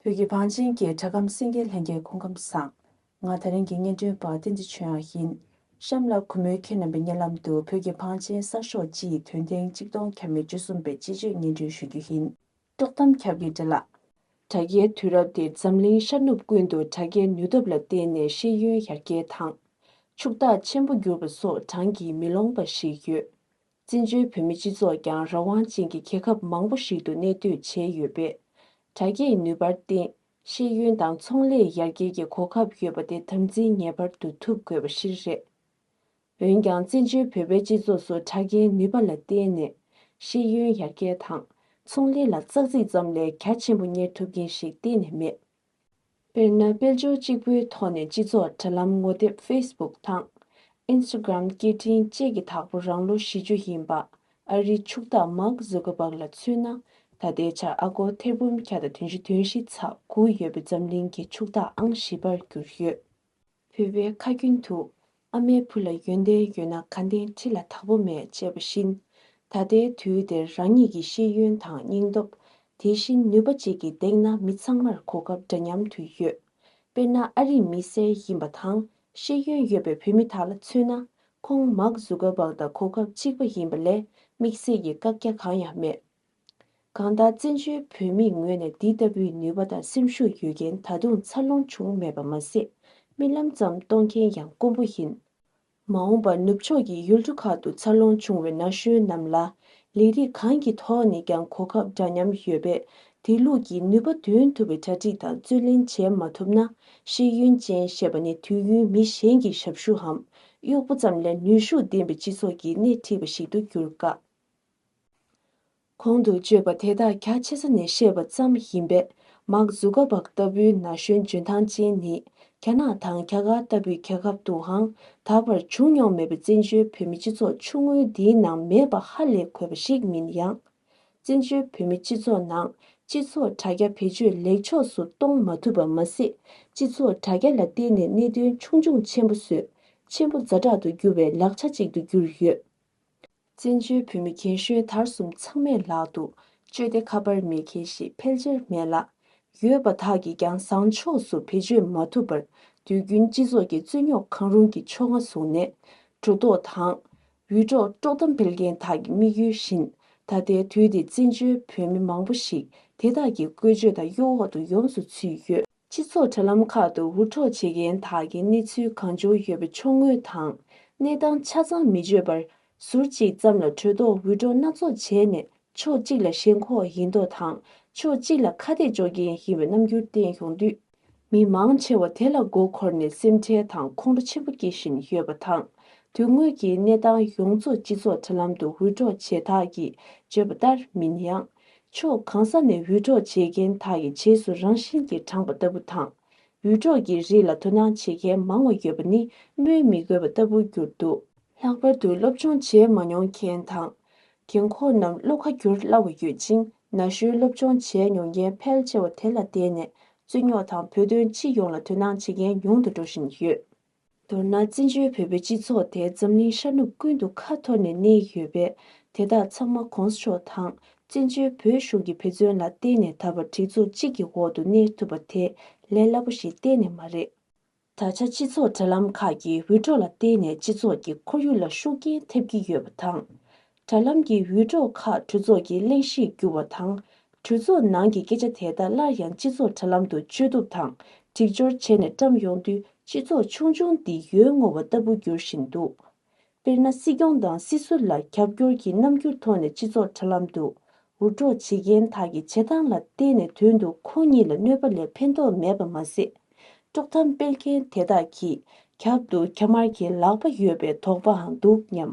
བོད་ཀྱི་བང་ཆེན་གྱི་གྲྭ་ཁམས་སེང་གེ་ལྷན་རྒྱས་ཁོང་ཁམས་བཟང། ང་ད་རིང་གི་སྙན་སྒྲོན་པ་བསྟན་འཛིན་ཆོས་དབྱངས་ཡིན། གཤམ་ལ་གུས་མོའི་ཁྱེད་རྣམ་པའི་སྙན་ལམ་དུ་བོད་ཀྱི་བང་ཆེན་གསར་ཤོག་སྤྱི་ཡི་དོན་ཐེངས་གཅིག་སྟོང་གྱ་མེད་བཅུ་གསུམ་པའི་སྤྱི་སྤྱོད་སྙན་སྒྲོན་ཞུ་རྒྱུ་ཡིན། དཀྲོག་གཏམ་ཁྱབ་ཀྱི་འདྲ་ལགས། དྲ་རྒྱའི་དུས་རབས་འདིར་འཛམ་གླིང་ཤར་ནུབ་ཀུན་ཏུ་དྲ་རྒྱའི་ནུས་སྟོབས་ལ་བརྟེན་ནས་ཤེས་ཡོན་ཡར་རྒྱས་དང། ཕྱུག་བདག་ཆེན་པོ་གྱུར་པ་སོགས་བགྲང་གིས་མི་ལོངས་པ་ཞིག་ཡོད། བཙན་བྱོལ་བོད་མི་སྤྱི་ཚོགས་ཀྱང་རང་དབང་ཅན་གྱི་རྒྱལ་ཁབ་མང་པོ་ཞིག་ཏུ་གནས་སྡོད་བྱས་ཡོད་པས། དྲ་རྒྱའི་ནུས་པར་བརྟེན་ཤེས་ཡོན་དང་ཚོང་ལས་ཡར་རྒྱས་ཀྱི་གོ་སྐབས་ཡོད་པ་དེ་དམ་འཛིན་ངེས་པར་དུ་ཐུབ་དགོས་པ་གཞིར་རེད། འོན་ཀྱང་བཙན་བྱོལ་བོད་པའི་སྤྱི་ཚོགས་སུ་དྲ་རྒྱའི་ནུས་པ་ལ་བརྟེན་ནས་ཤེས་ཡོན་ཡར་རྒྱས་དང་ཚོང་ལས་ལ་ཙག་ཙིག་ཙམ་ལས་གལ་ཆེན་པོ་གཉེར་ཐུབ་མཁན་ཞིག་གཏན་ནས་མེད། དཔེར་ན་དཔལ་འབྱོར་གཅིག་པོའི་ཐོག་ནས་སྤྱི་ཚོགས་དྲ་ལམ་ངོ་དེབ Facebook དང། Instagram སྐད་འཕྲིན་བཅས་ཀྱི་དྭགས་པོ་རང་ལོ་བཞི་ཅུ་ཡིན་པ་ཨ་རིའི་ཕྱུག་བདག Mark Zuckerberg ལ་མཚོན་ན་ད་ལྟའི་ཆར་ཨ་སྒོར་ཐེར་འབུམ་བརྒྱ་དང་དོན་བཞི་དོན་བཞི་ཚ་དགུ་ཡོད་པའི་འཛམ་གླིང་གི་ཕྱུག་བདག་ཨང་བཞི་པར་གྱུར་ཡོད། བུས་པའི་ཁ་རྒྱུན་དུ། ཨ་མའི་བུ་ལ་ཡོན་ཏན་ཡོད་ན་ག་འདེང་ཁྲི་ལ་དྭགས་པོ་མེད་ཅེས་པ་བཞིན། ད་ལྟའི་དུས་འདིར་རང་ཉིད་ཀྱི་ཤེས་ཡོན་དང་སྙིང་སྟོབས། དེ་བཞིན་ནུས་པ་བཅས་ཀྱིས་འདེགས་ན་མི་ཚང་མར་གོ་སྐབས་འདྲ་མཉམ་དུ་ཡོད། དཔེར་ན་ཨ་རིའི་མི་སེར་ཡིན་པ་དང་ཤེས་ཡོན་ཡོད་པའི་བུད་མེད་དག་ལ་མཚོན་ན། ཁོང་མག་ཟུ་ཀ་བག་དང་གོ་སྐབས་གཅིག་པ་ཡིན་པ་ལས་དམིགས་བསལ་གྱི་བཀག་རྒྱ་གང་ཡང་མེད། གང་ལྟར་བཙན་བྱོལ་བོད་མིའི་ངོས་ནས་འདི་ལྟ་བུའི་ནུས་པ་དང་སེམས་ཤུགས་ཡོད་མཁན་ད་དུང་འཚར་ལོངས་བྱུང་མེད་པ་མ་ཟད་རྨི་ལམ་ཙམ་གཏོང་མཁན་ཡང་དཀོན་པོ་ཡིན། མ་འོངས་པར་ནུབ་ཕྱོགས་ཀྱི་ཡུལ་གྲུ་ཁག་ཏུ་འཚར་ལོངས་བྱུང་བའི་ན་གཞོན་རྣམས་ལ་ལས་རིགས་གང་གི་ཐོག་ནས་ཀྱང་གོ་སྐབས་འདྲ་མཉམ་ཡོད་པས་དེ་ལུགས་ཀྱི་ནུས་པ་འདོན་ཐུབ་པའི་གྲ་སྒྲིག་དང་བརྩོན་ལེན་བྱེད་མ་ཐུབ་ན་ཤེས་ཡོན་ཅན་ཞེས་པ་ནི་དུས་ཡུན་མི་གཞན་གྱི་ཞབས་ཞུའམ་གཡོག་པོ་ཙམ་ལས་ནུས་ཤུགས་ལྡན་པའི་སྤྱི་ཚོགས་ཀྱི་སྣེ་ཁྲིད་པ་ཞིག་ཏུ་འགྱུར་དཀའ། གོང་དུ་བརྗོད་པ་དེ་དག་རྒྱ་ཆེ་ས་ནས་བཤད་པ་ཙམ་ཡིན་པས་མག་འཛུ་ཀ་བག་ལྟ་བུའི་ན་གཞོན་འཇོན་ཐང་ཅན་ནི་རྒྱ་ནག་དང་རྒྱ་གར་ལྟ་བུའི་རྒྱལ་ཁབ་ཏུའང་ད་བར་བྱུང་མྱོང་མེད་པའི་བཙན་བྱོལ་བོད་མི་སྤྱི་ཚོགས་ཆུང་ངུ་འདིའི་ནང་མེད་པ་ཧ་ལས་གོ་བ་ཞིག་མིན་ཡང། བཙན་བྱོལ་བོད་མི་སྤྱི་ཚོགས་ནང་སྤྱི་ཚོགས་དྲ་རྒྱ་བེད་སྤྱོད་ལེགས་ཕྱོགས་སུ་གཏོང་མ་ཐུབ་པ་མ་ཟད་སྤྱི་ཚོགས་དྲ་རྒྱ་ལ་བརྟེན་ནས་གནད་དོན་ཆུང་ཆུང་ཆེན་པོ་བཟོས་ཆེན་པོ་རྫ་དྲག་ཏུ་འགྱུར་བའི་ལག་ཆ་ཅིག་ཏུ་གྱུར་ཡོད། བཙན་བྱོལ་བོད་མི་རྒན་གཞོན་དར་གསུམ་ཚང་མས་ལག་ཏུ་སྤྱོད་དེ་ཁ་པར་མེད་མཁན་ཞིག་ཕལ་ཆེར་མེད་ལ། ཡོད་པ་དག་གིས་ཀྱང་བཟང་ཕྱོགས་སུ་བེད་སྤྱོད་མ་ཐུབ་པར་དུས་རྒྱུན་སྤྱི་ཚོགས་ཀྱི་རྩོད་རྙོག་གང་རུང་གི་ཕྱོགས་སྔ་བཟུང་ནས། གྲོ་ལྡོག་དང། འུད་སྒྲོག་དཀྲོག་གཏམ་སྤེལ་མཁན་དག་གི་དམིགས་ཡུལ་བཞིན་ད་ལྟའི་དུས་འདི་བཙན་བྱོལ་བོད་མི་མང་པོ་ཞིག་དེ་དག་གི་བཀོལ་སྤྱོད་དང་གཡོ་འོག་ཏུ་ཡོངས་སུ་ཚུད་ཡོད། སྤྱི་ཚོགས་དྲ་ལམ་ཁག་ཏུ་འུར་འཕྲོག་བྱེད་མཁན་དག་གི་གནས་ཚུལ་གང་བྱུང་ཡོད་པ་ཕྱོགས་ངོས་དང་གནས་སྟངས་ཆ་ཚང་མི་བརྗོད་པར་ཟུར་གཅིག་ཙམ་ལ་གྲོས་ཐོག་འུད་སྒྲོག་སྣ་ཚོགས་བྱས་ནས་ཕྱོགས་གཅིག་ལ་ཞེན་ཁོག་ཡིན་མདོག་དང་ཕྱོགས་གཅིག་ལ་ཁ་གཏད་གཅོག་མཁན་ཡིན་པའི་རྣམ་འགྱུར་བསྟན་ཡོང་དུས། མི་མང་ཆེ་བ་དེ་ལ་མགོ་འཁོར་ནས་སེམས་ཁྲལ་དང་ཁོང་ཁྲོ་ཆེན་པོ་སྐྱེ་བཞིན་ཡོད་པ་དང། དོན་དངོས་ཀྱི་གནས་སྟངས་ཡོངས་རྫོགས་སྤྱི་ཚོགས་དྲ་ལམ་དུ་འུར་འཕྲོག་བྱེད་དག་གིས་བརྗོད་པ་ལྟར་མིན་ཡང། ཕྱོགས་གང་ས་ནས་འུད་སྒྲོག་བྱེད་མཁན་དག་གི་རྗེས་སུ་རང་བཞིན་གྱིས་འབྲངས་པ་ལྟ་བུ་དང། འུད་སྒྲོག་གི་རིགས་ལ་དོ་སྣང་བྱེད་མཁན་མང་བ་ཡོད་པ་ནི་སྨོས་མི་དགོས་པ་ལྟ་བུར་གྱུར་འདུག། ལྷག་པར་དུ་སློབ་སྦྱོང་བྱས་མ་མྱོང་མཁན་དང། རྒན་འཁོགས་རྣམས་བློ་ཁ་བསྒྱུར་སླ་བ་ཡོད་ཅིང་ན་གཞོན་སློབ་སྦྱོང་བྱས་མྱོང་མཁན་ཕལ་ཆེ་བ་དེ་ལ་བརྟེན་ནས་རྩོད་རྙོག་དང་བོད་དོན་སྤྱི་ཡོངས་ལ་དོ་སྣང་བྱེད་མཁན་ཉུང་དུ་འགྲོ་བཞིན་ཡོད། མདོར་ན་བཙན་བྱོལ་བོད་པའི་སྤྱི་ཚོགས་དེ་འཛམ་གླིང་ཤར་ནུབ་ཀུན་ཏུ་ཁ་འཐོར་ནས་གནས་ཡོད་པས་དེ་དག་ཚང་མ་གོང་ས་མཆོག་དང་བཙན་བྱོལ་བོད་གཞུང་གི་ཕན་ཚུན་ལ་བརྟེན་ནས་ད་བར་སྒྲིག་འཛུགས་གཅིག་གི་འོག་ཏུ་གནས་ཐུབ་པ་དེ་ལས་སླ་པོ་ཞིག་གཏན་ནས་མ་རེད། ད་ཆ་སྤྱི་ཚོགས་དྲ་ལམ་ཁག་གི་འུད་སྒྲོག་ལ་བརྟེན་ནས་སྤྱི་ཚོགས་ཀྱི་ཁོར་ཡུག་ལ་ཤུགས་རྐྱེན་ཐེབས་ཀྱི་ཡོད་པ་དང། དྲ་ལམ་གྱི་ཡུལ་གྲོགས་ཁག་གྲོས་ཚོགས་ཀྱི་གླེང་གཞིར་བསྒྱུར་བ་དང། གྲོས་ཚོགས་ནང་གི་སྐད་ཆ་དེ་དག་སླར་ཡང་སྤྱི་ཚོགས་དྲ་ལམ་དུ་བཅོས་བསྡུ་དང་སྒྲིག་སྦྱོར་བྱས་ནས་བཀྲམས་ཡོང་དུས་སྤྱི་ཚོགས་ཆུང་ཆུང་འདི་ཡོལ་བསྔོ་བ་ལྟ་བུ་འགྱུར་བཞིན་འདུག་དཔེར་ན་སྲིད་སྐྱོང་དང་སྲིད་ཟུར་ལ་རྒྱབ་སྐྱོར་གྱི་རྣམ་འགྱུར་ཐོག་ནས་སྤྱི་ཚོགས་དྲ་ལམ་དུ་འུར་སྒྲོག་བྱེད་མཁན་དག་གི་བྱེད་སྟངས་ལ་བལྟས་ནས་དོན་དུ་ཁོང་གཉིས་ལ་གནོད་པ་ལས་ཕན་ཐོགས་མེད་པ་མ་ཟད། དཀྲོག་གཏམ་སྤེལ་མཁན་དེ་དག་གིས་ཁྱབ་ཏུ་ཁྱམས་དམར་གྱི་ལག་པ་ཡོད་པའི་དོགས་པའང་འདུག་སྙམ།